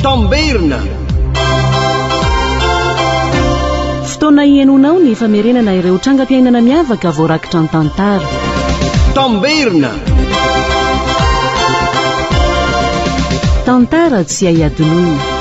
Tamberina. Fotoana hihainoanao ny famerenana ireo trangam-piainana miavaka voarakitra an-tantara. Tamberina. Tantara tsy hay hadinoina.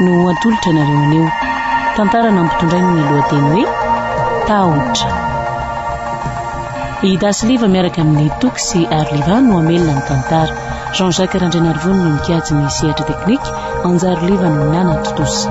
no ho atolotra anareo anio. Tantara nampitondrainy ny lohateny hoe Tahotra. I Dasy Liva miaraka amin'ny Toky sy Ary Liva no hamelona ny tantara. Jean Jacques Randrianarivony no mikajy ny sehatra teknika, Anjary Liva no nanatontosa.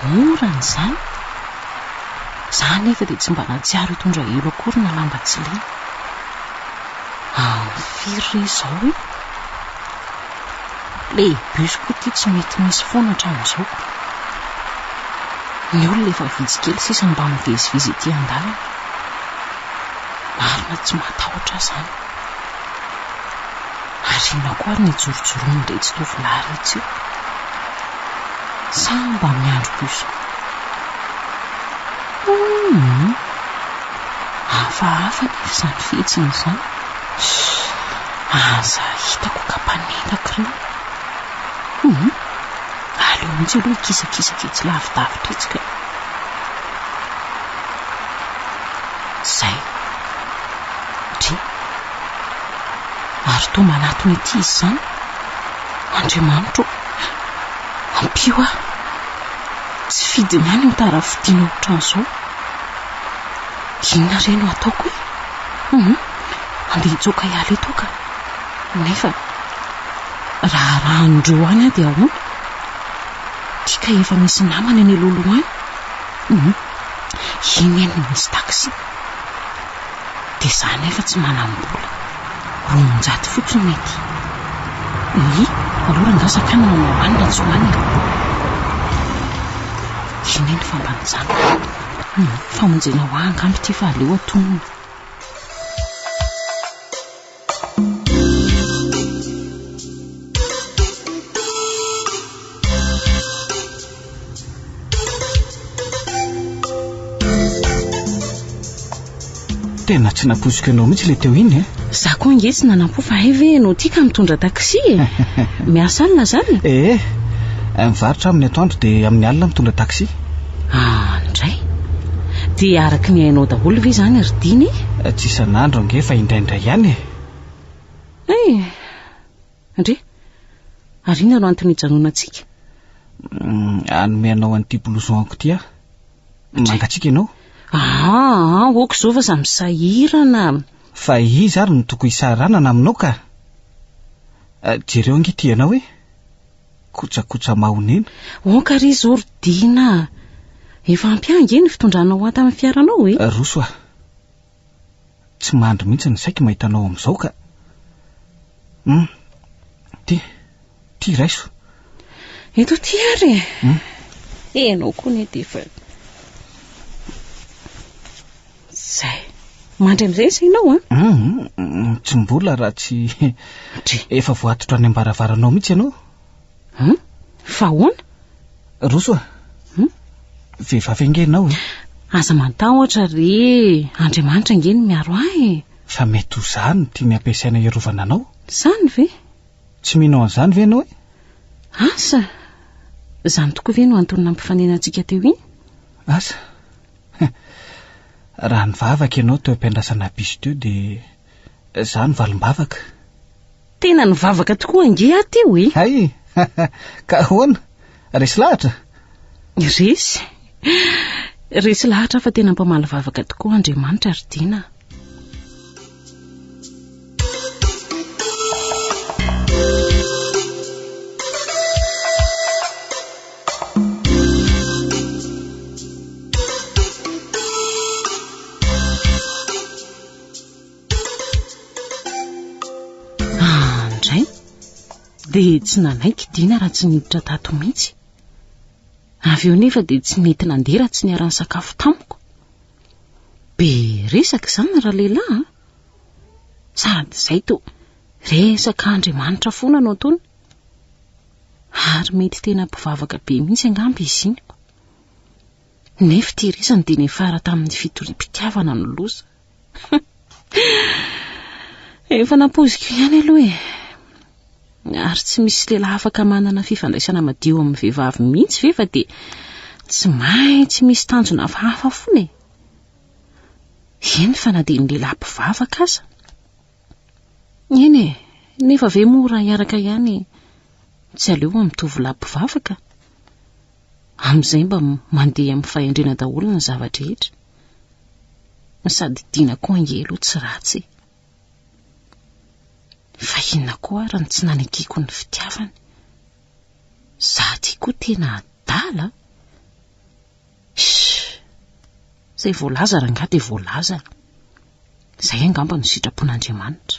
Mora ny izany. Za anefa dia tsy mba nahatsiaro hitondra elo akory na lamba tsy lena. Amin'ny firy re izao e? Le bus koa ity tsy mety misy foana hatramin'izao. Ny olona efa vitsy kely sisa mba mivezivezy ety an-dalana. Marina tsy matahotra aho izany. Ary inona koa ary ny jorojoroan'iretsy tovolahy iretsy io? Sa mba miandry bus koa? Humm! Hafahafa anefa izany fihetsiny izany. Aza hitako ka mpanendaka ireo. Humm! Aleo mihitsy aloha hikisakisaka etsy lavidavitra etsy kay. Izay. Dry. Ary toa manatona ity izy izany, Andriamanitro ô, ampio ahy. Tsy fidiny ihany ny tara fidina ohatran'izao. Inona re no ataoko e? Hum, andeha hitsoaka hiala eto aho ka. Nefa raha arahan'ireo any aho dia ahoana? Ity kay efa misy namana eny aloha aloha any. Hum, iny anie no misy taxi. Dia za nefa tsy manam-bola. Roanjato fotsiny mety. Oye, aloha rangaha sakana na hoany na tsy hoany e. Iny anie ny famba nijanona. Humm, famonjena ho ahy angamba ity fa aleo atonina. Tena tsy nampoiziko ianao mihitsy le teo iny e. Za koa nge tsy nanampo fa hay ve ianao tika mitondra taxi e. Miasa alina zany? Eh, mivarotra aminy atoandro dia amin'ny alina mitondra taxi. Ah, indray? Dia araka ny hainao daholo ve izany ry Dina e? Tsy isan'andro ange fa indraindray ihany e! Eh! Ndry! Ary inona no antony ijanonantsika? Hanome anao an'ity blouson-ko ity aho. Mangatsiaka ianao? Ah, ok izao fa samy sahirana. Fa iza ary no tokony hisahiranana aminao ka? Jereo ange ity ianao e! kojakoja mahonena. Onka ry Zordina a! Efa ampy ahy ange ny fitondranao ho ahy tamin'ny fiaranao e! Roso a! Tsy mandry mihitsy ny saiko mahita anao amin'izao ka. Hum! Ty, ty raiso. Eto ty ary e! Hum! Ianao koa anie dia efa... Izay. Mandry amin'izay ny sainao an? Hum, tsy mbola raha tsy Dry. efa voatotra any am-baravaranao mihitsy ianao. Hum? Fa ahoana? Roso a. Hum? Vehivavy ange ianao e. Aza mantahotra re, Andriamanitra ange no miaro ahy e. Fa mety ho za no tiany ampiasaina hiarovana anao. Izany ve? Tsy mino an'izany ve ianao e? Asa! Izany tokoa ve no antony nampifaninantsika teo iny? Asa! Raha nivavaka ianao teo am-piandrasana bus teo dia izaho no valim-bavaka. Tena nivavaka tokoa ange aho teo e! Hay! Ka ahoana? Resy lahatra? Resy? Resy lahatra aho fa tena mpamaly vavaka tokoa Andriamanitra ry Dina a! dia tsy nanaiky dina raha tsy niditra tato mihitsy avy eo nefa dia tsy nety nandeha raha tsy niara-nisakafo tamiko Be resaka izany ralehilahy a! Sady izay to resaka Andriamanitra foana no ataony. Ary mety tena mpivavaka be mihitsy angamba izy iny. Nefa ity resany dia niafara tamin'ny fitoriam-pitiavana ny loza. Efa nampoiziko ihany aloha e. Ary tsy misy lehilahy afaka manana fifandraisana madio amin'ny vehivavy mihitsy ve fa dia tsy maintsy misy tanjona hafahafa foana e? Eny fa na dia ny lehilahy mpivavaka aza. Eny e, nefa ve moa raha hiaraka ihany tsy aleo amin'ny tovolahy mpivavaka? Amin'izay mba mandeha amin'ny fahendrena daholo ny zava-drehetra. Sady Dina koa ange aloha tsy ratsy e. Fa inona koa ary no tsy nanekeako ny fitiavany? Za ty koa tena adala a! Shh! Zay voalaza rangah dia voalaza e! Zay angamba no sitrapon'Andriamanitra.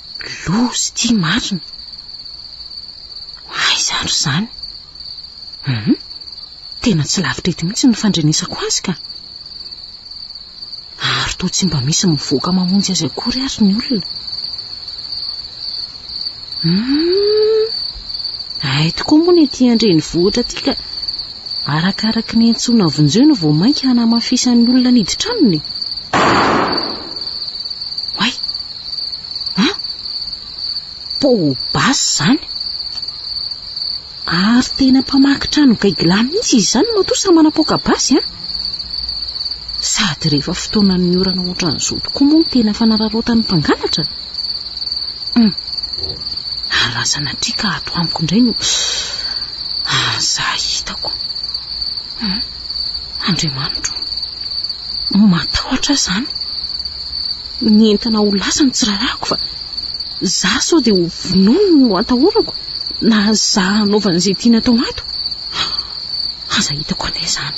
Loza ity marina. Aiza ary izany? Hum, tena tsy lavitra eto mihitsy ny fandrenesako azy ka. Ary toa tsy mba misy mivoaka mamonjy azy akory ary ny olona. Hum, ay tokoa moa ny ety an-drenivohitra ity ka arakaraky ny antsoina vonjeo no vao mainka hanamafisan'ny olona niditra aminy. Oay! An? Pau Bas zany? Ary tena mpamaky trano gaigilà mihitsy izy izany matoa sa manapoaka basy an? Sady rehefa fotoanan'ny orana ohatran'izao tokoa moa no tena fanararaotan'ny mpangalatra? Hum. Ary raha sanatria ka ato amiko indray no... Ah, za hitako. Hum. Andriamanitro. Matahotra aho izany. Ny entana ho lasa no tsy rarahako fa za sao dia ho vonoiny no atahorako na za hanaovany izay tiany atao ato. Aza hitako anie izany.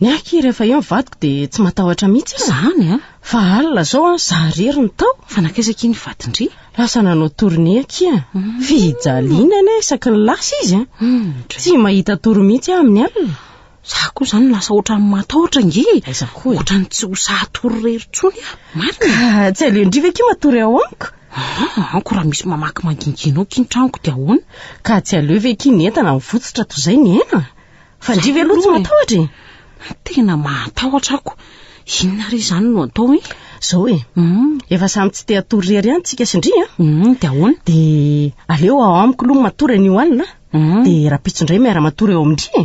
Ny ahy rehefa eo ny vadiko dia tsy matahotra mihitsy aho. Izany a? Fa alina izao an, za irery no tao. Fa nankaiza akia ny vadin-dry? Lasa nanao tournée akia. Hmm. Fijaliana anie isaky ny lasa izy an. Hmm, tsy mahita tory mihitsy aho amin'ny alina. Za koa izany lasa ohatran'ny matahotra nge. Aiza koa e? Ohatran'ny tsy ho sahy hatory irery intsony aho. Marina? Ka tsy aleon-dry ve akia matory ao amiko? Ah, anko raha misy mamaky mangingianao akia ny tranoko dia ahoana? Ka tsy aleo ve akia ny entana mivotsotra toy izay ny aina? Fa ndry ve aloha tsy matahotra e? Tena mahatahotra ako. Inona re izany no atao e? Zao e, mm. efa samy tsy te hatory rery ihany tsika sy ndry a? Mm, dia ahoana? Dia aleo ao amiko aloha matory anio alina, mm. dia rapitso indray miara-matory eo amin-dry e.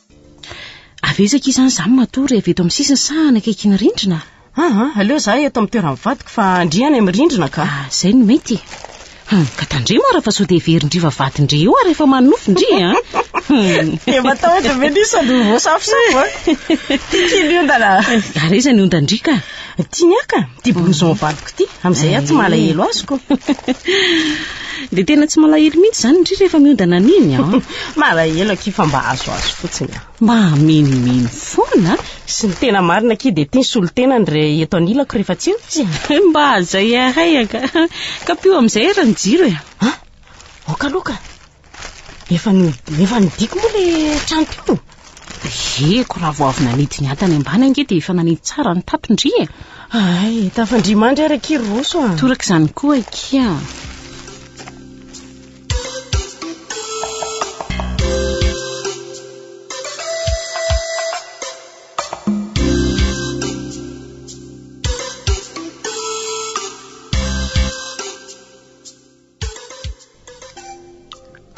Avy aiza akia izany izany matory avy eto amin'ny sisiny sa any akaikin'ny rindrina? Ah, ah, aleo za eto amin'ny toeran'ny vadiko fa ndry any amin'ny rindrina ka. Ah, izay no mety e. Hum, ka tandremo ara fa sao dia heverin-dry va vadin-dry eo ary efa manonofy ndry e. Hum. Dia matahotra be ndry sady ho voasafosafo a. Tiky ny ondana. Ary aiza ny ondan-dry ka? Tiany aka ty blouson valiko ty, amin'izay aho tsy malahelo azoko. Dia tena tsy malahelo mihitsy izany ndry rehefa miodana an'iny an. Malahelo akia fa mba azoazo fotsiny an. Mba hamenomeno foana. Sy ny tena marina akia dia tia ny solon-tenany re eto anilako rehefa tsy eo izy an. Mba zay ahay aka. Kapio amin'izay ary ny jiro e. Aoka aloha ka. Efa no efa nodiako moa le trano teo? Heko raha vao avy nanidy ny antany ambany ange dia efa nanidy tsara ny tato ndry e. Ay, tafandria mandry ary akia ry Roso a. Toraka izany koa akia.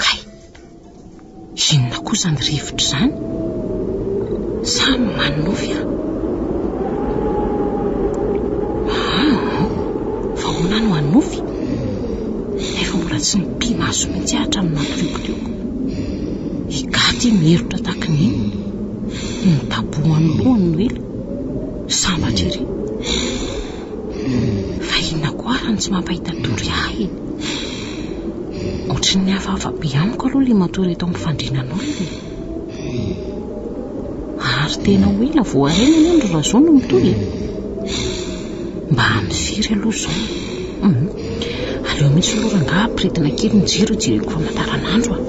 Kay! Inona koa izany rivotra izany? Sa manonofy aho? Aa! Fa ahoana no hanonofy? Nefa mbola tsy nipi-maso mihitsy aho hatramin'ny nampiliokilioko. I Gaty miherotra tahaka ny inona? Nidabohan'ny lohany Noely, sambatra ery. Fa inona koa ary no tsy mampahita tory ahy e? Ohatran'ny hafahafa be amiko aloha ilay matory eto amin'ny fandrianan'olona e. Ary tena ho ela vao harena anie ny Razoa no mitory e. Mba amin'ny firy aloha izao? Hum, aleo mihitsy aloha rangahy ampiretina kely ny jiro hijereko famantaranandro a.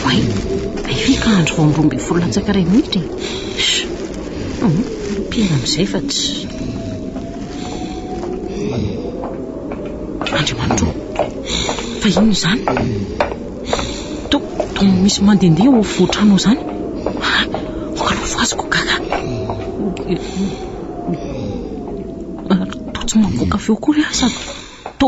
Oay, hay ve ka andro vao amin'ny roa ambin'ny folo latsaka iray minitra e? Mpino amin'izay fa tsy... Andriamanitro, fa inona izany? To, to misy mandehandeha ao afovoan-trano ao izany. Ah, ongalovo azy ko gaga. Ary to tsy mamoaka feo akory aho sady to...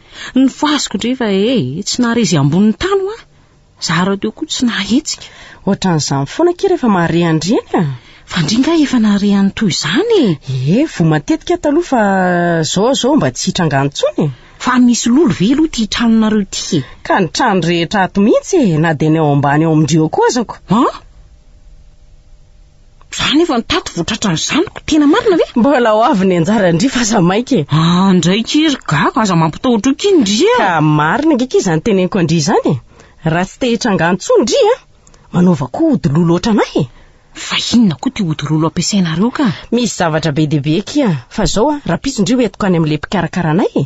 Ny fasoko ndry fa e, tsy nahare izay ambonin'ny tany hoa. Za rahateo koa tsy nahetsika. Ohatran'izany foana akia rehefa mahare an-dry eny a. Fa ndry nga efa nahare an'ny toy izany e. Ee, voa matetika aho taloha fa zao zao mba tsy hitranga any intsony e. Fa misy lolo ve aloha ity tranonareo ity e? Ka ny trano rehetra ato mihitsy e, na dia ny ao ambany ao amin-dry eo koa azako. An? Za nefa ny tato votratra ny zanako, tena marina ve? Mbola ho avy ny anjara ndry fa aza maika e. Ah, ndray ki ry gaga, aza mampitahotra eo ki ndry a. Ka marina ange ki izany teneniko an-dry izany e. Raha tsy te hitranga intsony ndry a, manaova koa ody lolo ohatranay e. Fa inona koa ty ody lolo ampiasainareo ka? Misy zavatra be dia be ki a. Fa zao a, rahampitso ndry ho entiko any amin'ilay mpikarakara anay e.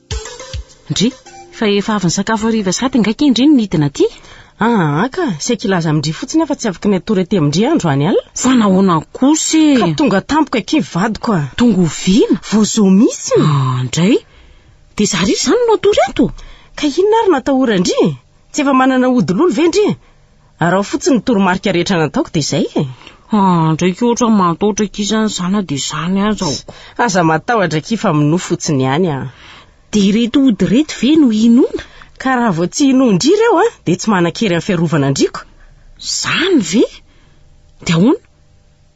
Ndry, fa efa avy nisakafo hariva sahady angaha kay ndry no nidina aty? Aa ka, saiky hilaza amin-dry fotsiny aho fa tsy afaka ny hatory aty amin-dry aho androany alina. Fa nahoana kosa e? Ka tonga tampoka akia vadiko a! Tonga oviana? Vao zao mihitsy! Aa ndray, dia za ry izany no hatory ato? Ka inona ary no atahoran-dry? Tsy efa manana ody lolo ve ndry? Araho fotsiny ny toromarika rehetra nataoko dia izay e. Ah, ndraiky ohatra mantaotra aky izany izany na dia izany aza aho. Aza matahotra aky fa minoa fotsiny ihany aho. Dia ireto ody ireto ve no hinoana? Ka raha vao tsy hinoan-dry ireo an, dia tsy manan-kery amin'ny fiarovana an-driako. Izany ve? Dia ahoana?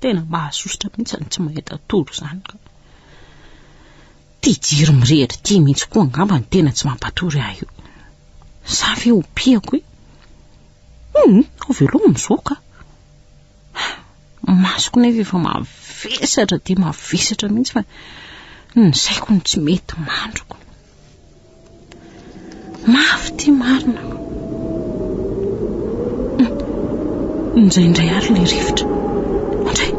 Tena mahasosotra mihitsy izany tsy mahita tory izany ka. Ity jiro mirehitra ity mihitsy koa angamba no tena tsy mampatory ahy io. Sa ve ho piako e? Hum, ho veloma izao ka. Masoko nefa efa mavesatra dia mavesatra mihitsy fa ny saiko no tsy mety mandriko. Mafy ity marina. Indraindray ary ilay rivotra. Indray.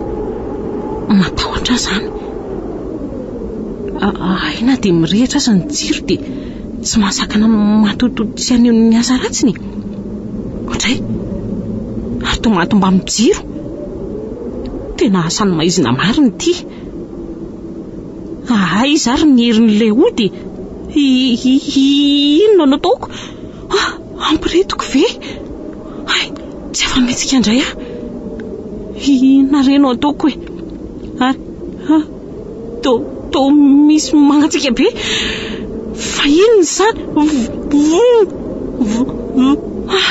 Matahotra ahy izany. Hay na dia mirehitra aza ny jiro dia tsy mahasakana matoto tsy haneho ny asa ratsiny. Indray. Ary toa mahatomba amin'ny jiro. Tena asan'ny maizina marina ity. Ahaa iza ary ny herin'ilay ody e? Inona no ataoko? Ah, ampiritiko ve? Hay, tsy afa-mihetsika indray aho. Inona re no ataoko e? Ary, to, to misy mangatsiaka be. Fa inona izany? Voo, voo, ah,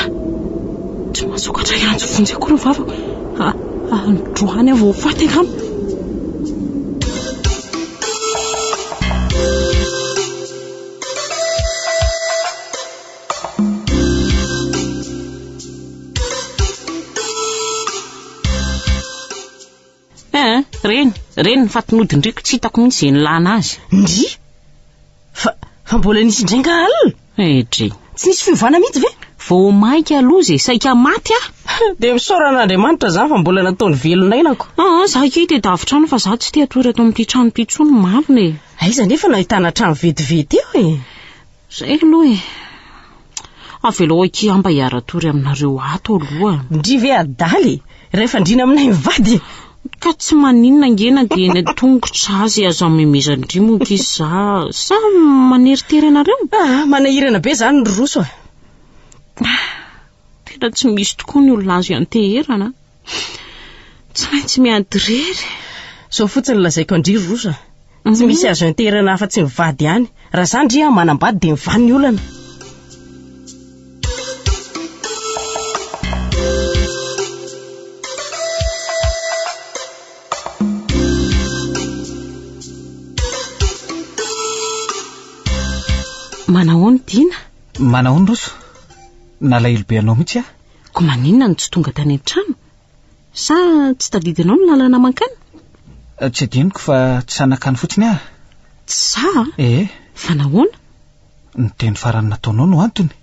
tsy mahasokatra hiantso vonjy akory ny vavako. Androany aho vao ho faty angamba. Eeh, reny, reny ny fatin'odin-driako, tsy hitako mihitsy izay nilana azy. Ndrii! Fa, fa mbola nisy indray nga alina? Edry. Tsy nisy fiovana mihitsy ve? Vao maika aloha izay saika maty aho. Dia misaora an'Andriamanitra izany fa mbola nataony velon'ainako. Ah, ah, za kay dia davitra any fa za tsy te hatory ato amin'ity trano ity intsony marina e. Aiza nefa no ahitana trano vetivety eo e? Zay aloha e. Avelao akia aho mba hiara-tory aminareo ato aloha. Ndry ve adala e! Raha efa andriana aminay mivady e! Ka tsy maninona ange na dia eny an-tongotra azy aza amemezan-dry monka izy za sa maneritery anareo? Ah, manahirana be izany ry Roso a! Tena tsy misy tokoa ny olona azo ianteherana a! Tsy maintsy miady irery e! Izao fotsiny lazaiko an-dry ry Roso a! Tsy misy azo enterana afa-tsy ny vady ihany. Raha izany ry an, manambady dia mivaha ny olana. Manahoana i Dina? Manahoana Roso? Nalahelo be anao mihitsy aho. Koa maninona no tsy tonga tany an-trano? Sa tsy tadidinao ny lalana mankany? Tsy adinoko fa tsy sahy nankany fotsiny aho. Tsy sahy? Ee. Fa nahoana? Ny teny farany nataonao no antony.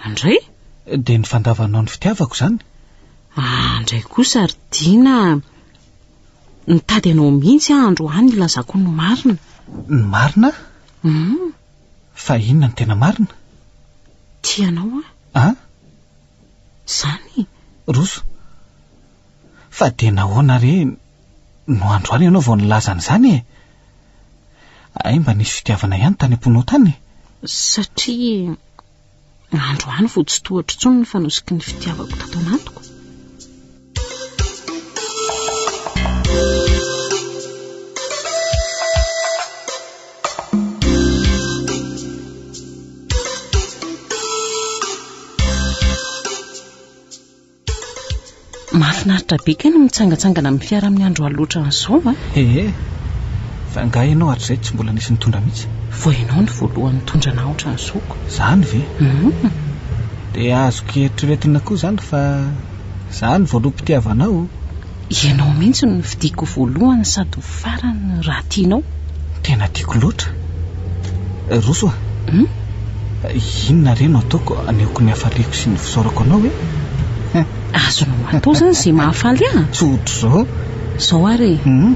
Andray? Dia ny fandavanao ny fitiavako izany. Andray kosa ry Dina a! Nitady anao mihitsy aho androany hilazako ny marina. Ny marina? Hum. Fa inona no tena marina? Tia anao aho. An? Zany Roso? Fa dia nahoana re no androany ianao vao nilaza an'izany e? Hay mba nisy fitiavana ihany tany am-ponao tany e? Satria androany vao tsy tohatro intsony ny fanosiky ny fitiavako tato anatiko. Mahafinaritra be kay ny mitsangatsangana amin'ny fiara amin'ny andro alina ohatran'izao a! Ehe, fa angaha ianao hatrizay tsy mbola nisy nitondra mihitsy? Vao ianao no voalohany nitondra anah ohatran'izao ko! Izany ve? Hum! Dia azoko eritreretina koa izany fa. Za no voaloham-pitiavanao o. Ianao mihitsy no fidiko voalohany sady ho farany raha tianao. Tena tiako loatra. Roso a. Hum? Inona re no ataoko anehoako ny hafaliako sy ny fisaorako anao e? Hum. Azonao atao izany izay mahafaly ahy. Tsy ohatr'izao. Izao ary e. Hum?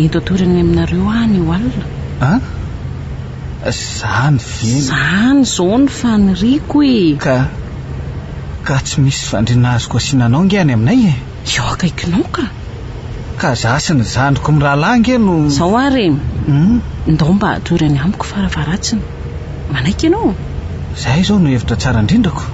Ento atorany aminareo ahy ny eo alina. An? Zany ve no. Zany zao ny faniriako e! Ka. Ka tsy misy fandriana azoko asiana anao nge any aminay e! Eo akaikinao ka! Ka za sy ny zandriko mirahalahy nge no. Zao ary e! Hum? Ndao mba atory any amiko faravaratsiny. Manaiky ianao? Zay izao no hevitra tsara indrindrako.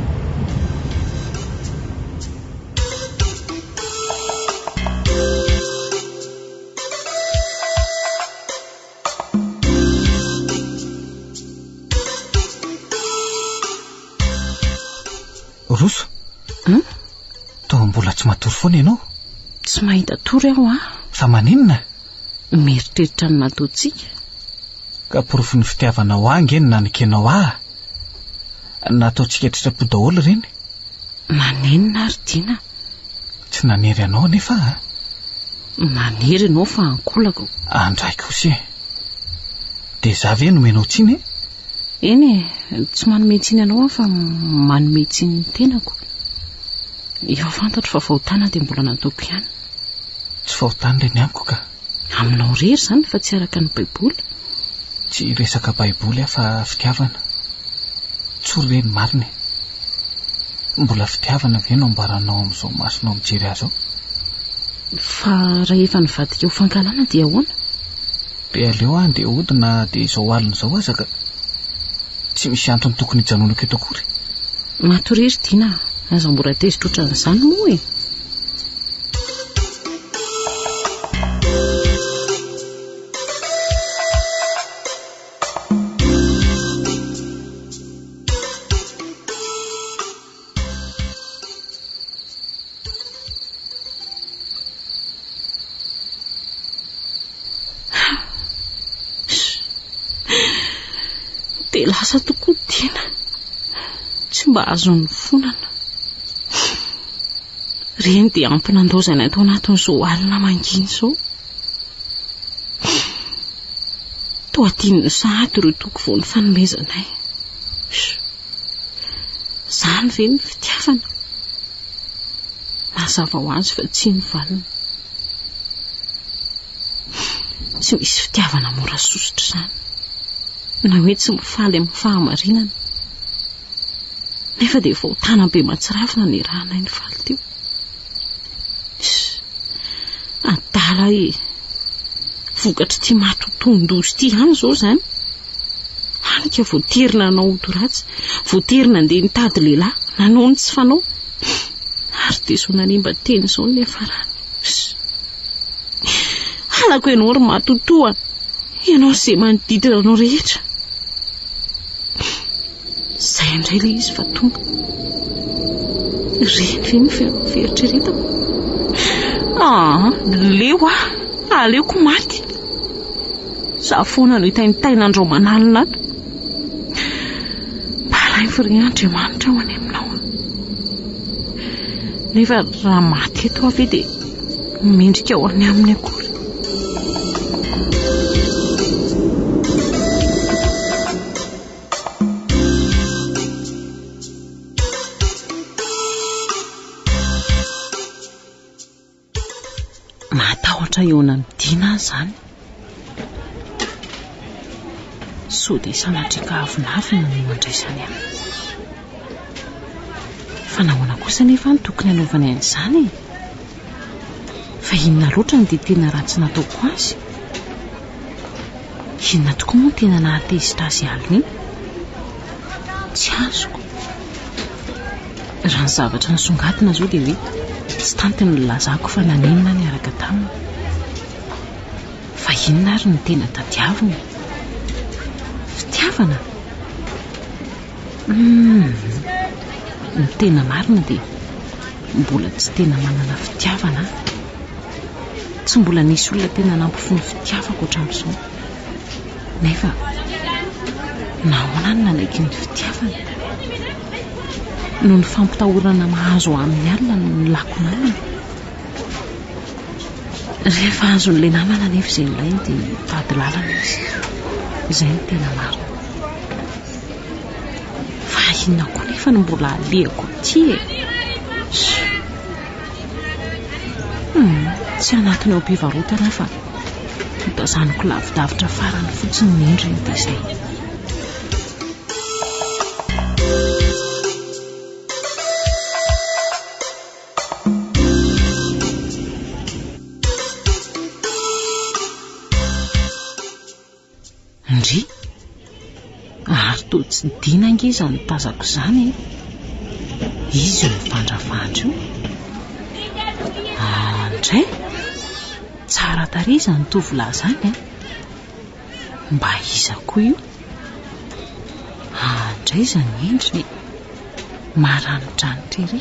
Roso Hum Toa mbola tsy matory foana ianao Tsy mahita tory aho a Fa maninona Mieritreritra ny nataontsika Ka porofon'ny fitiavanao ahy nge ny nanekenao ahy Nataontsika an-tsitrapo daholo ireny. Manenina ary Dina. Tsy nanery anao anefa a. Manery ianao fa ankolako. Andraiko kosa e. Dia za ve nomenao tsiny e? Eny e, tsy manome tsiny anao aho fa manome tsiny ny tenako. Efa fantatro fa fahotana dia mbola nataoko ihany. Tsy fahotana ilay ny amiko ka. Aminao rery izany fa tsy araka ny baiboly. Tsy resaka baiboly aho fa fitiavana. Tsory ve ny marina e? Mbola fitiavana ve no ambaranao amin'izao masonao mijery ahy izao? Fa rahefa nivadika ho fankahalana dia ahoana? Dia aleo aho andeha hody na dia izao alina izao aza ka. Tsy misy antony tokony hijanonako eto akory. Matoria ry Dina a! Aza mora tezitra ohatran'izany moa e! dia lasa tokoa Dina tsy mba azon'ny fonana Ireny dia ampy nandaozany ato anatin'izao alina mangina izao. Toa tian'ny sahady ireo toky vao nifanomezanay. Izany ve ny fitiavana? Mazava ho azy fa tsy ny valiny. Tsy misy fitiavana mora sosotra izany. Na hoe tsy mifaly amin'ny fahamarinana. Nefa dia vao tany Ampimatsirafy naneranay ny faly teo. Adala e! Vokatr'ity maty tohindoza ity ihany izao izany. Hany ka voatery nanao ody ratsy, voatery nandeha nitady lehilahy, nanao ny tsy fanao. Ary dia izao nanimba teny izao ny niafarany. Halako ianao ry matotoa, ianao sy izay manodidina anao rehetra. Izay indray ilay izy fa tonga. Reny ve ny fieritreretako? Ah, leo ah, aleoko maty. Za foana no hitaintaina andromanalina ato. Balainfo ry Andriamanitra ho any aminao. Nefa raha maty eto aho ve dia mendrika ho any aminy akory. Mahatahotra eo anamidina ahy izany. Sao dia sanatria ka avonavona no andraisany ahy? Fa nahoana kosa anefa no tokony hanaovany an'izany e? Fa inona loatra no dia tena ratsy nataoko azy? Inona tokoa moa no tena nahatezitra azy hialona iny? Tsy azoko. Raha ny zavatra nisongadina izao dia hoe tsy tanty ny nilazako fa nanenina ahy niaraka taminy. Fa inona ary no tena tadiaviny e? Fitiavana? Humm! Ny tena marina dia mbola tsy tena manana fitiavana aho. Tsy mbola nisy olona tena nampify ny fitiavako hatramin'izao. Nefa nahoana no nanaiky ny fitiavana? Noho ny fampitahorana mahazo ahy amin'ny alina no nilako namana. Rehefa azon'ilay namana anefa izay nilainy dia mitady lalana izy. Izay no tena marina. Fa inona koa nefa no mbola alehako aty e? Hum, tsy anatiny ao am-pivarotana aho fa notazaniko lavidavitra farany fotsiny ny endriny dia izay. Ndry! Ary toa tsy dina ange izany tazako izany e! Iza io mivandravandra io? Ahh ndray! Tsara tarehy izany tovolahy izany an! Mba iza koa io? Aa ndray izany endriny e! Maranidranitra ery!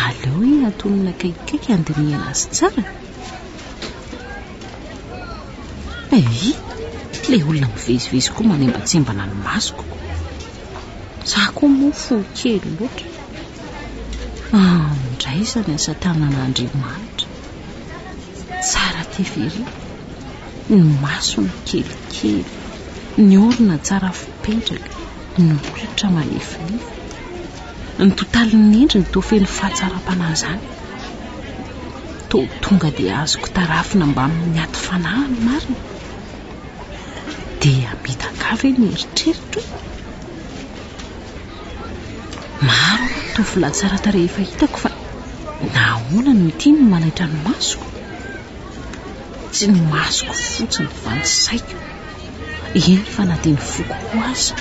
Aleo anie atonina akaikikaiky handinihana azy tsara e! Ehi! Ilay olona mivezivezy koa manembatsembana ny masoko. Za koa moa fo kely loatra. Aa ndray izany asa tanan'Andriamanitra! Tsara tery ery! Ny masony kelikely, ny orona tsara fipetraka, ny molotra malefolefo. Ny totalin'ny endriny toa feno fahatsaram-panahy izany. Toa tonga dia azoko tarafina mbamin'ny aty fanahy ny marina. Dia midakà ve ny eritreritro? Maro aloha ny tovolahy tsara tarehy efa hitako fa nahoana no ity no manaitra ny masoko? Tsy ny masoko fotsiny fa ny saiko, eny fa na dia ny foko koa aza.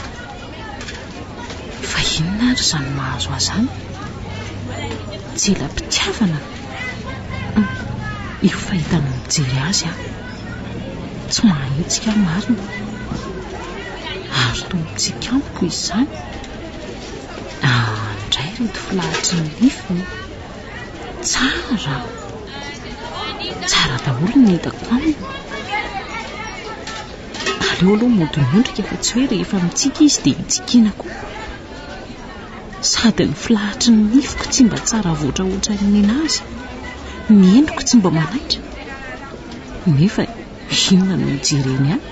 Fa inona ary izany mahazo ahy izany? Tsy ela am-pitiavana an! Io fahitana mijery azy aho, tsy mahahitsika aho marina. Ary toa mitsikampo izy izany. Aah, indray ireto filahatry ny nifiny. Tsara! Tsara daholo ny hitako aminy. Aleo aloha mody miondrika fa tsy hoe rehefa mitsiky izy dia hitsikiana koa. Sady ny filahatry ny nifiko tsy mba tsara avoatra hoatran'ny ninazy, ny endriko tsy mba manaitra. Nefa inona no hijereny ahy?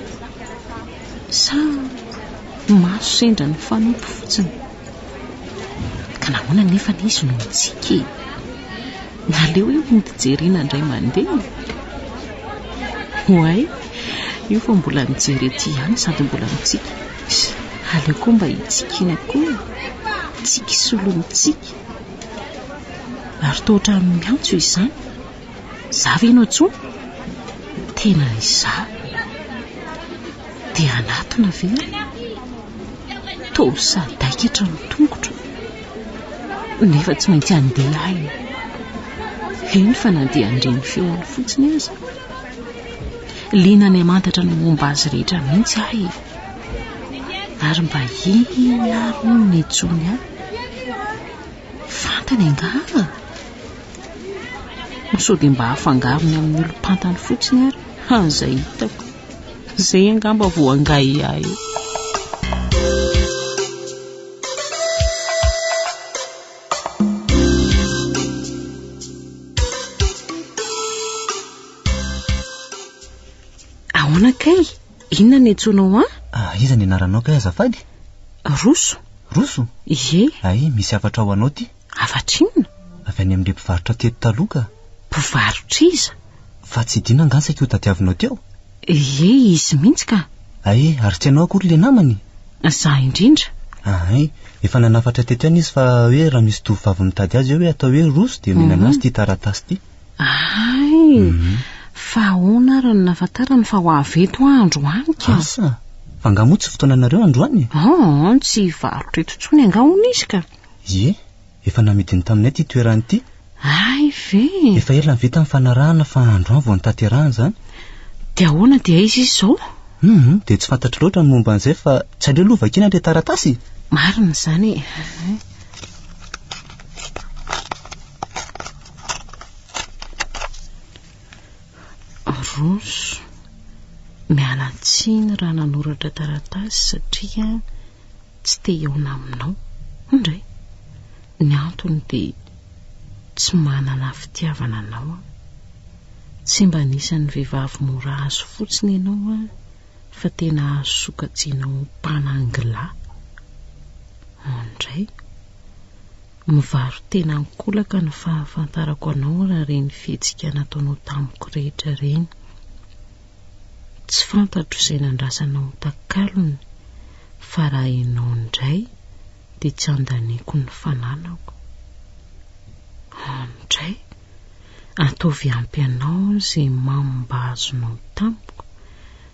Sa maso sendra ny fanompo fotsiny? Ka nahoana anefa anie izy no mitsiky e? Naleo io mody jerena indray mandeha e! Oay, io fa mbola mijery ety ihany sady mbola mitsiky. Aleo koa mba hitsikiana koa e! Tsiky solon'ny tsiky. Ary toa ohatran'ny miantso izany. Za ve no antsoy? Tena izaho. Dia anatona ve aho? Toa sadaikatra ny tongotro. Nefa tsy maintsy handeha aho e. Heno fa na dia handre ny feony fotsiny aza. Liana any hamantatra ny momba azy rehetra mihitsy aho e. Ary mba inona ary hono no nentsoiny ahy? Fantany angaha? Ho sao dia mba afangarony amin'ny olom-pantany fotsiny ary, ha, izay hitako. Izay angamba vao angahiahy eo. Ahoana kay? Inona ny antsoinao an? Ah, iza ny anaranao kay azafady? Roso. Roso? Ie. Ay, misy hafatra ho anao ty. Hafatra inona? Avy any amin'ilay mpivarotra teto taloha ka. Mpivarotr'iza? Fa tsy Dina angaha saika io tadiavinao teo? Ie, izy mihitsy ka. Ay, ary tsy ianao akory ilay namany? Izaho indrindra. Ahay, efa nanafatra teto ihany izy fa hoe raha misy tovovavy mitady azy eo hoe atao hoe Roso dia omena an'azy ity taratasy ity. Hay! Fa ahoana ary no nahafantarany fa ho avy eto aho androany ka? Asa! Fa angaha moa tsy fotoananareo androany e? Aa, tsy hivarotra eto intsony angaha hono izy ka? Ie, efa namidiny taminay ity toerana ity. Hay ve! Efa ela nivita ny fanarahana fa androany vao notanterahana izany. Dia ahoana dia aiza izy izao? Hum, dia tsy fantatro loatra ny momba an'izay fa tsy aleo aloha vakiana ilay taratasy e! Marina izany e! Aronso, miala tsiny raha nanoratra taratasy satria tsy te hihaona aminao. Indray, ny antony dia tsy manana fitiavana anao aho. Tsy mba anisan'ny vehivavy mora azo fotsiny ianao an, fa tena azo sokajiana ho mpanangilahy. Indray. Mivaro-tena an-kolaka ny fahafantarako anao raha ireny fihetsika nataonao tamiko rehetra ireny. Tsy fantatro izay nandrasanao takalony fa raha ianao indray dia tsy andaniako ny fananako. Andray, ataovy ampy anao izay mamo mba azonao tamiko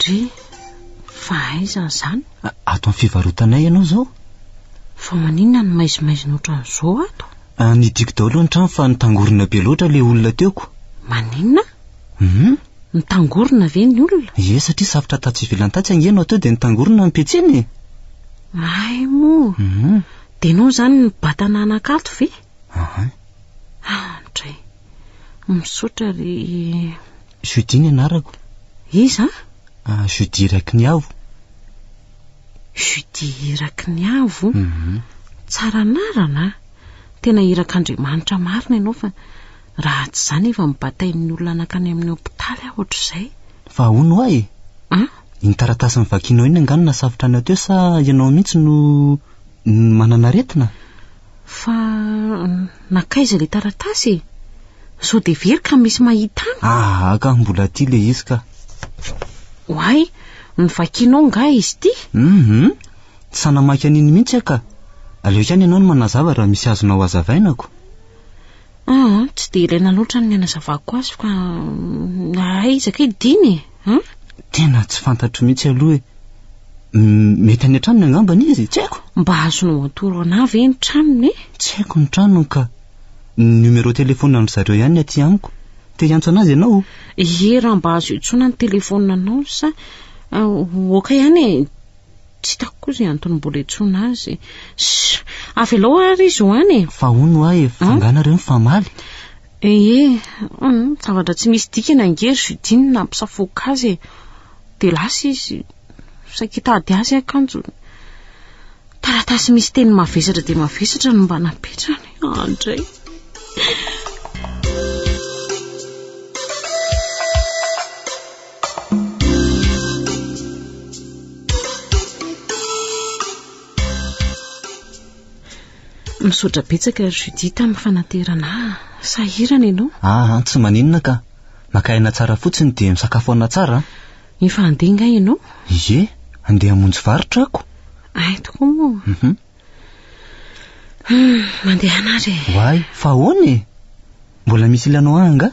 Dry, fa aiza izany? Ato amin'ny fivarotanay ianao izao. Fa maninona no maizimaizina ohatran'izao ato? Ah, nidiko daholo ny trano fa nitangorona be loatra ilay olona teoko. Maninona? Hum? Nitangorona ve ny olona? Ie, satria safotra tatsy ivelany tatsy ange no atao dia nitangorona ny petsiny e! Hay moa! Hum? Dia ianao izany nibata nanan-kato ve? Ahay. Ah, dry. Misaotra ry... Judy ny anarako. Iza? Ah, Judy Irakiniavo. Judy Irakiniavo? Mhm. Tsara anarana. Tena irak'Andriamanitra marina ianao fa raha tsy izany efa mibatain'ny olona nankany amin'ny hopitaly aho ohatr'izay. Fa ahoana hoa e? Ah? Iny taratasy novakianao iny angaha no nasafotra anao teo sa ianao mihitsy no no manana aretina? Fa nankaiza ilay taratasy e? Sao dia very ka misy mahita an? Aha ka, mbola aty ilay izy ka. Oay, novakianao nga izy ity? Mhm, tsy sahy namaky an'iny mihitsy aho ka. Aleo ihany ianao no manazava raha misy azonao hazavaina ko. Aa, tsy dia ilaina loatra ny hanazavako azy fa aiza kay dina e? An? Tena tsy fantatro mihitsy aloha e. Mety any an-tranony angamba ny izy, tsy haiko. Mba azonao atoro anà ve ny tranony e? Tsy haiko ny tranony ka. Ny numéro téléphone an-dry zareo ihany ny aty amiko. Te hiantso an'azy ianao? Ie, raha mba azo iantsoana ny telefaonina anao sa. Ok ihany e. Tsy hitako koa izay antony mbola iantsoana azy. Shh! Avelao ary izy ho any e! Fa hono ho'a e, fa angaha nareo mifamaly? Ee, zavatra tsy misy dikany ange ry Judine nampisafoaka azy e. Dia lasa izy. Saika hitady azy akanjo. Taratasy misy teny mavesatra dia mavesatra no mba napetrany. Andray. Misaotra betsaka ry Judith amin'ny fanaterana ahy. Sahirana ianao? Aha, tsy maninona ka. Maka aina tsara fotsiny dia misakafo aina tsara. Efa handeha nga ianao? Ie, handeha hamonjy varotra ako. Ay tokoa moa. Mhm. Hmm, mandehana ary e. Why? Fa ahoana e? Mbola misy ilana ho ahy nga?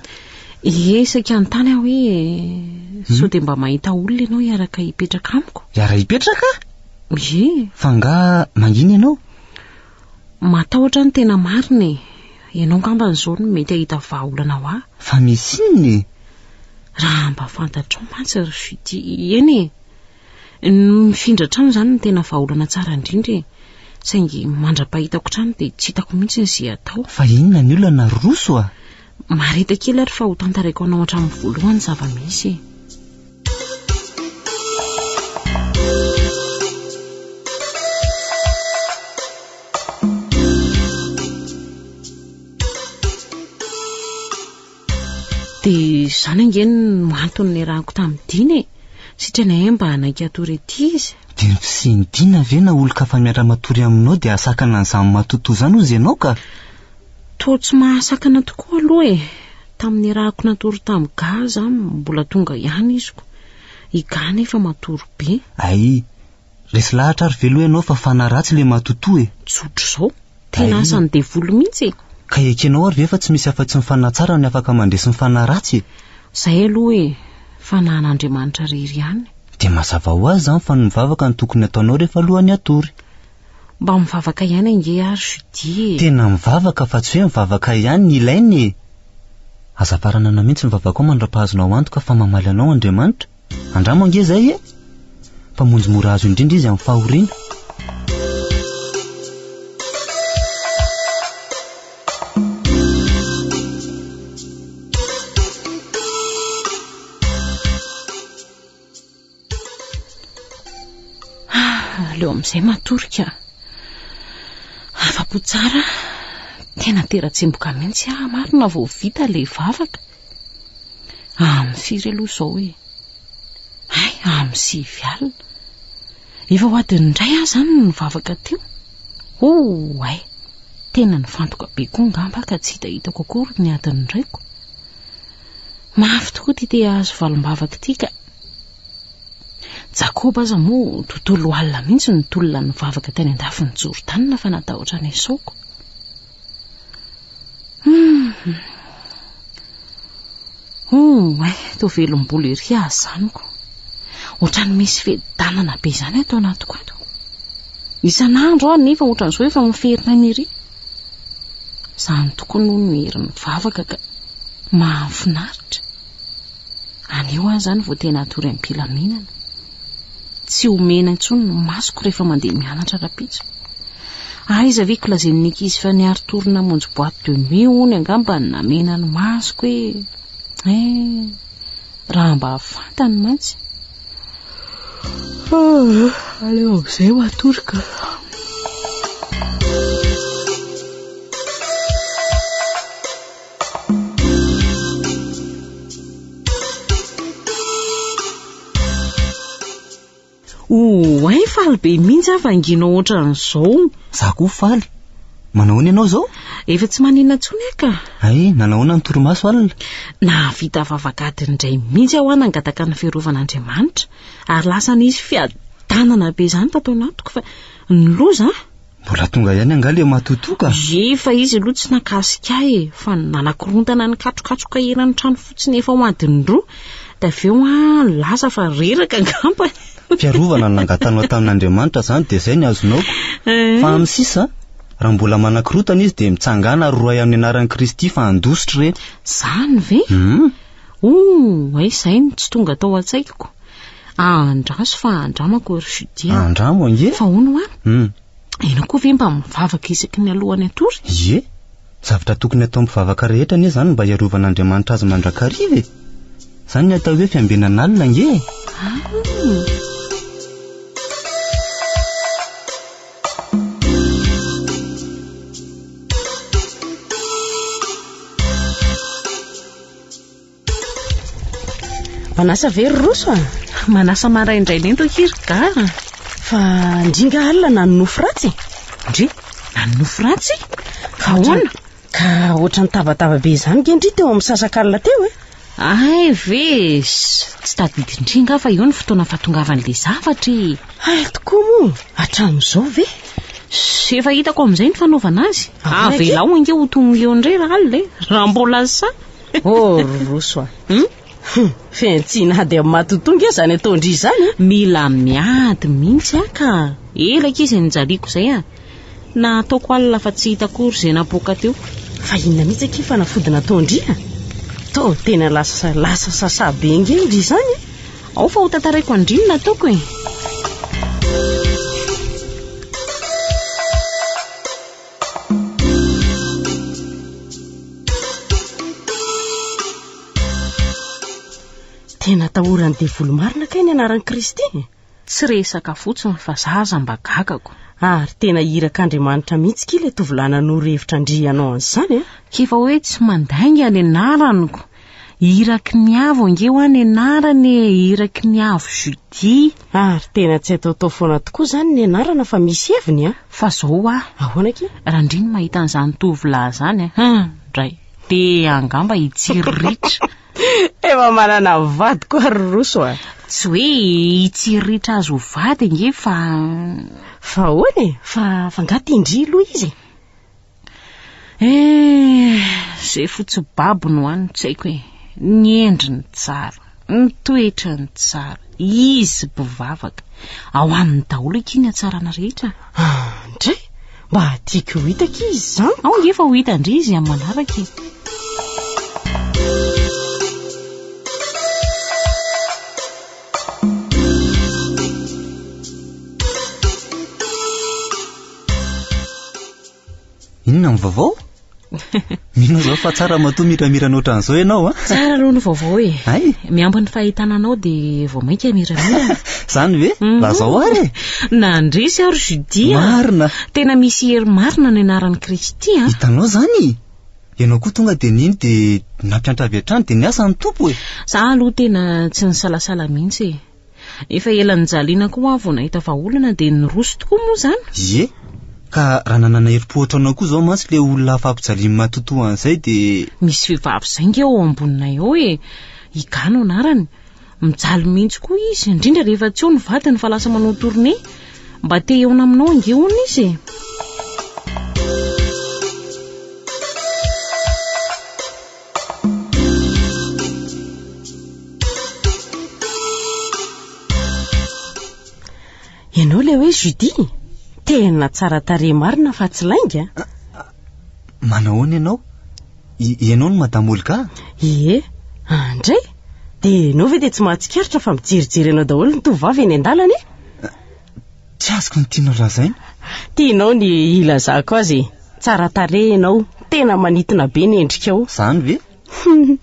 Ie, isaky hanontany aho hoe hmm? sao dia mba mahita olona ianao hiaraka hipetraka amiko? Hiara hipetraka? Ie. Fa nga mangina ianao? Matahotra ny tena marina e. Ianao ngamba an'izao no mety hahita vahaolana ho ahy. Fa misy inona e? Raha mba fantatrao mantsy ry Judy, eny e. Ny mifindra hatrany izany no tena vahaolana tsara indrindra e! Saingy mandra-pahitako hatrany dia tsy hitako mihitsy ny ze atao. Fa inona ny olana ry Roso a? Mareta kely ary fa ho tantaraiko anao hatramin'ny voalohany ny zava-misy e! Dia izany ange no antony niarahako tamin'i Dina e! Sitrana ahy mba hanaiky hatory ety izy. Dia ny fisian'i Dina ve na olon-kafa miara-matory aminao dia hahasakana an'izany matotoa izany hozy ianao ka? Toa tsy mahasakana tokoa aloha e! Tamin'ny niarahako natory tamin'i Ga aza mbola tonga ihany iziko. I Ga anefa matory be. Ay, Resy lahatra ary veloo ianao fa fanahy ratsy ilay matotoa e! Tsotra izao. Tena asan'ny devoly mihitsy e! Ka ekenao ary ve fa tsy misy afa-tsy ny fanahy tsara ny afaka mandresy ny fanahy ratsy e! Izay aloha e! Fanahin'Andriamanitra irery ihany. Dia mazava ho azy izany fa ny mivavaka no tokony ataonao rehefa alohan'ny hatory. Mba mivavaka ihany ange ary Judy e! Tena mivavaka fa tsy hoe mivavaka ihany ny ilaina e! Aza faranana mihitsy ny vavakao mandra-pahazonao antoka fa mamaly anao Andriamanitra. Andramo ange zay e! Mpamonjy mora azo indrindra izy amin'ny fahoriana. aleo amin'izay matory ka afa-po tsara tena tera-tsemboka mihitsy aho marina vao vita ilay vavaka Amin'ny firy aloha izao e? Hay, amin'ny sivy alina. Efa ho adin'ny iray aho izany no nivavaka teo. Oh, hay, tena nifantoka be koa ngamba ka tsy hitahitako akory ny adin'ny iraiko. Mafy tokoa ity te hahazo valimbavaka ity ka. Jakoba aza moa tontolo alina mihitsy ny tolona nivavaka teny an-dafin'i Jordana fa natahotra ny esaoko. Hum, eh, to velom-bolo ery azy zaniko. Otrany misy fedanana be izany ato anatiko ato. Isan'andro aho nefa ohatran'izao efa miferina ny ery. Zany tokoa no ny hery mivavaka ka mahafinaritra. Anio aho zany vao tena atory am-pilaminana. Tsy omena intsony ny masoko rehefa mandeha mianatra rapitso. Aiza ve ko lazain'ny ankizy fa niary tour namonjy boîte de nuit hono angamba ny namena ny masoko e. Eh, raha mba fantany mantsy. Ah, aleo amin'izay ho atoroka. Oay faly be mihitsy aho vanginao ohatran'izao. Za koa faly. Manahoana ianao izao? Efa tsy maninona intsony aho ka. Ay, nanahoana ny torimaso alina? Nahavita vavak'ady indray mihitsy aho nangataka ny firovan'Andriamanitra ary lasa nisy fiadanana be izany tato anatiko fa ny loza Mbola tonga ihany angaha le matotoa ka? Ye fa izy aloha tsy nakasika ahy e, fa ny nanakorontana ny katrokatroka eran'ny trano fotsiny efa ho adiny roa, dia avy eo an, lasa fa reraka angamba e. Fiarovana no nangatanao tamin'Andriamanitra izany dia izay ny azonao ko. Fa amin'ny sisa, raha mbola manakorontana izy dia mitsangàna ary rohay amin'ny anaran'i Kristy fa handositra ireny. Izany ve? Hum. Ouh, aiza ahy no tsy tonga tao an-tsaiko. Andraso fa andramako ry Judia. Andramo ange. Fa hono hoa? Hum. Ianao koa ve mba mivavaka isaky ny alohan'ny hatory? Ie, zavatra tokony atao mpivavaka rehetra anie izany mba hiarovan'Andriamanitra azy mandrakariva e. Izany ny atao hoe fiambenan'alina ange e. Ah. Manasa ve ry Roso a? Manasa maraindraina ento akia ry Ga a! Fa ndry nga alina na ny nofy ratsy e? Ndry, na ny nofy ratsy? Fa ahoana? Ka ohatran'ny tabataba be izany nge ndry teo amin'ny sasakalina teo e? Ay ve e! Tsy tadidin-dry nga fa io ny fotoana fahatongavan'ilay zavatra e! Hay tokoa moa, hatramin'izao ve? Ze efa hitako amin'izay ny fanaovana azy. Avelao ange ho tongony eo indray raha alina e. Raha mbola lasa. Oh ry Roso a. Hum? Hum, fihantsiana ady amin'ny matotoa nge izany ataon-dry izany e. Mila miady mihitsy aho ka. Ela akia izay nijaliako izay a. Na ataoko alina fa tsy hita akory izay napoaka teo. Fa inona mihitsy akia fanafody nataon-dry a. Toa tena lasa lasa sasa be nge indry izany e. Ao fa ho tantaraiko andrinona ataoko e. Tena atahoran'ny devoly marina kay ny anaran'i Kristy. Tsy resaka fotsiny fa za aza mba gagako. Ary tena iraka Andriamanitra mihitsy kila tovolahy nanoro hevitra andrianao an'izany a. K'efa hoe tsy mandainga ny anaraniko. Iraky ny avo ange hoa nenarana e, Iraky ny avo Judy. Ary tena tsy ataotao foana tokoa izany ny anarana fa misy heviny an! Fa zao hoa, Ahoana akia? raha ndry ny mahita an'izany tovolahy izany an, hum, dray, dia angamba hitsiriritra. Efa manana vady koa ry Roso a! Tsy hoe hitsiriritra azy ho vady ange fa. Fa ahoana e? Fa, fa angaha te-ndry loha izy e? Eh, ze fotsy babo no any tsy haiko e. Ny endriny tsara, ny toetrany tsara, izy bivavaka. Ao aminy daholo aky ny hatsarana rehetra. Ah, ndray, mba tiako ho hita aky izy zany. Ao ngefa ho hita ndry izy amin'ny manaraka e. Inona ny vaovao? Mino izao fa tsara matoa miramirana ohatran'izao ianao a. Tsara aloha ny vaovao e. Ay? Miampy ny fahitana anao dia vao mainka miramirana. Zany ve? Mhm. Lazao ary e. Nandresy aho ry Judy a. Marina. Tena misy hery marina ny anaran'i Kristy a. Hitanao zany? Ianao koa tonga dia nino dia nampiantra avy hatrany dia niasa ny Tompo e. Za aloha tena tsy nisalasala mihitsy e. Efa ela nijaliana koa aho vao nahita fa olana dia niroso tokoa moa izany. Ie, ka raha nanana herim-po ohatranao koa izao mantsy ilay olona hafa ampijaliany matotoa an'izay dia. Misy vehivavy izay nge ao amboninay ao e! I Ga no anarany. Mijaly mihitsy koa izy, indrindra rehefa tsy eo ny vadiny fa lasa manao tournée. Mba te hihaona aminao ange hono izy e! Ianao ilay hoe Judy? Tena tsara tarehy marina fa tsy lainga. Ah, ah, manahoana ianao? Ianao no Madame Olga? Ie, andray. Ah, dia ianao ve dia tsy mahatsikaritra fa mijerijery anao daholo ny tovovavy eny an-dalana e? Tsy azoko ny tianao lazaina. Tianao ny hilazako azy e. Tsara tarehy ianao, tena manintona be ny endrikao. Izany ve?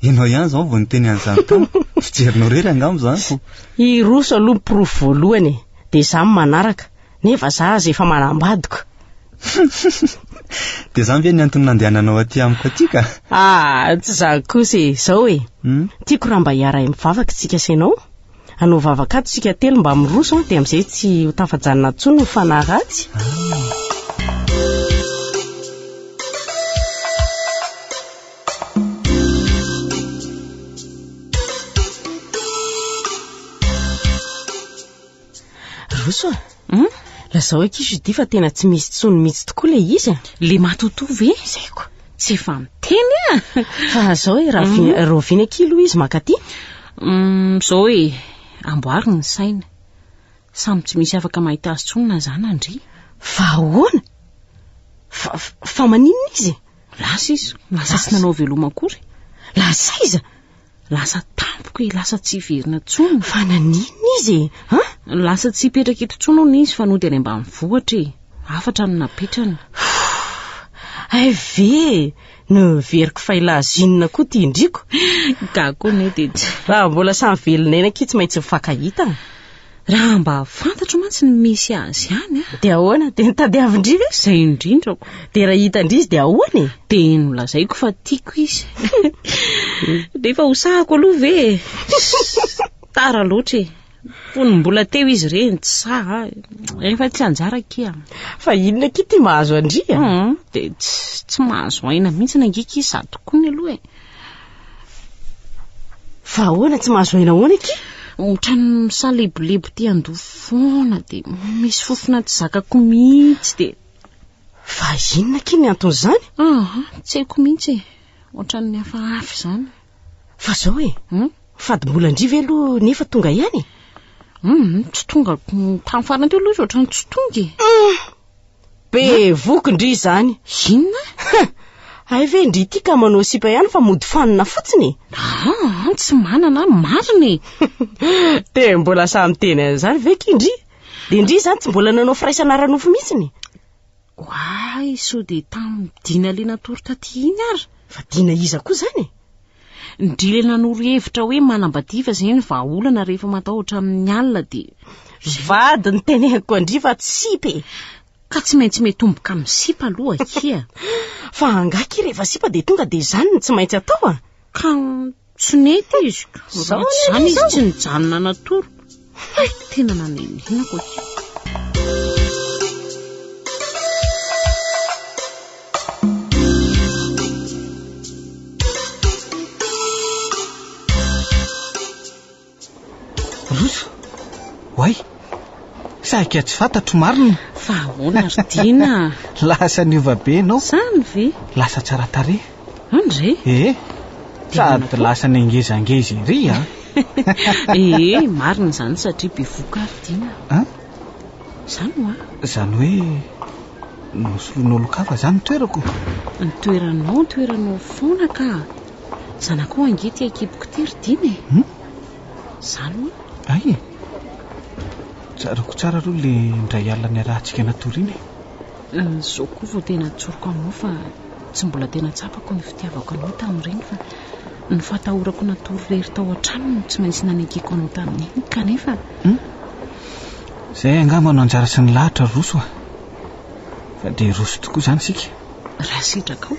Ianao ihany izao vao niteny an'izany tamiko. Fijerinao irery angamba izany ko. Hiroso aloha ny porofo voalohany e, dia izaho ny manaraka, nefa izaho aza efa manambadiko. Dia izany ve ny antony nandehananao aty amiko aty ka? Ah, tsy izany kosa e, izao e. Tiako raha mba hiara-mivavaka isika sy ianao. Hanao vavaka ato isika telo mba miroso an, dia amin'izay tsy ho tafajanona intsony ny fanahy ratsy. Roso a. Hum? Lazao eky Judy fa tena tsy misy tsony mitsy tokoa le izy a! Le matotoa ve? Zay ko! Tsy efa miteny a! Fa zao e, raha vi- rahoviana eky aloha izy mankaty? Hum, zao e, amboary ny saina. Samy tsy misy afaka mahita azy tsony na za na ndry. Fa ahoana? Fa, fa maninona izy? Lasa izy, lasa tsy nanao veloma akory. Lasa iza? Lasa tampoka e, lasa tsy hiverina tsony. Fa naninona izy e? Ha? Lasa tsy hipetraka eto tsony hono izy fa nody any ambany vohatra e. Hafatra no napetrany. Hay ve e, noheveriko fa i Lazina koa ity indriko. Gaga koa anie dia tsy. Raha mbola samy velona eny akia tsy maintsy mifankahita. Raha mba fantatro mantsy ny misy azy any a. Dia ahoana? Dia nitadiavin-dry ve? Izay indrindrako. Dia raha hitan-dry izy dia ahoana e? Dia nolazaiko fa tiako izy. Nefa hosahako aloha ve e? Tara loatra e. Fony mbola teo izy ireny tsy saha. Efa tsy anjara kia. Fa inona kia ity mahazo an-dry a? Dia tsy mahazo aina mihitsy ny angika izy sady koa ny aloha e. Fa ahoana tsy mahazo aina ahoana aky? Otrany misalebolebo ty ando foana de misy fofona tsy zakako mihitsy de. Fa inona aky ny anton'izany? Ah, tsy haiko mihitsy e. Otrany hafahafa izany. Fa zao e. Hmm? Fadimbola ndry ve aloha nefa tonga ihany? Hmm, tsy tonga tamin'ny farany teo aloha izy otrany tsy tonga e. Hmm. Be voky ndry izany. Inona? Huh! Hay ve ndry ity ka manao sipa ihany fa mody fanina fotsiny e. Aa, tsy manana an, marina e. Dia mbola sahy miteny an'izany ve ki ndry? Dia ndry izany tsy mbola nanao firaisana ara-nofo mihitsiny? Oay, sao dia tamin'ny dina le natory taty iny ary. Fa dina iza koa izany e? Ndryy nanoro hevitra hoe manambadiva izay ny vahaolana rehefa matahotra amin'ny alina dia. Ry vady noteneniko an-dry fa tsy sipa e! Ka tsy maintsy miatomboka amin'ny sipa aloha akia a! Fa angaha akia rehefa sipa dia tonga dia izany no tsy maintsy atao a! Ka tsy nety izy ka raha tsy izany izy tsy nijanona natory. Haiko tena nanenina hoy. Roso, oay, sahika tsy fantatro marina. Fa ahoana ry Dina? Lasa niova be ianao. Zany ve? Lasa tsara tarehy. Andre? Ee, sady lasa nengezangeza ery an! Ee, marina izany satria bevoka ary Dina a! An? Izany hoa! Izany hoe nosoloina olon-kafa izany ny toerako? Ny toeranao, ny toeranao foana ka! Zanakao ange ity an-kiboko ity ry Dina e! Hum? Izany hoa! Hay e! Tsaroako tsara aloha ilay indray alina niarahantsika natoriana e! Izao koa vao tena an-tsoriko aminao fa tsy mbola tena tsapako ny fitiavako anao tamin'ireny fa ny fahatahorako natory irery tao an-trano no tsy maintsy nanekeko anao tamin'iny kanefa. Hmm? Izay angamba no anjara sy ny lahatra roso a. Fa dia roso tokoa izany isika. Raha sitraka ao.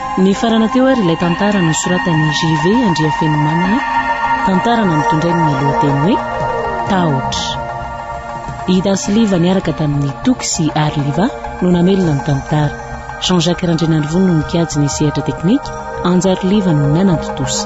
Nifarana teo ary ilay tantara nosoratan'i JV Andriafenomanana, tantara nampitondrainy ny lohateny hoe Tahotra. I Dasiliva niaraka tamin'i Toky sy Arliva no namelona ny tantara. Jean Jacques Randrianarivony no nikajy ny sehatra teknika, Anjariliva no nanatontosa.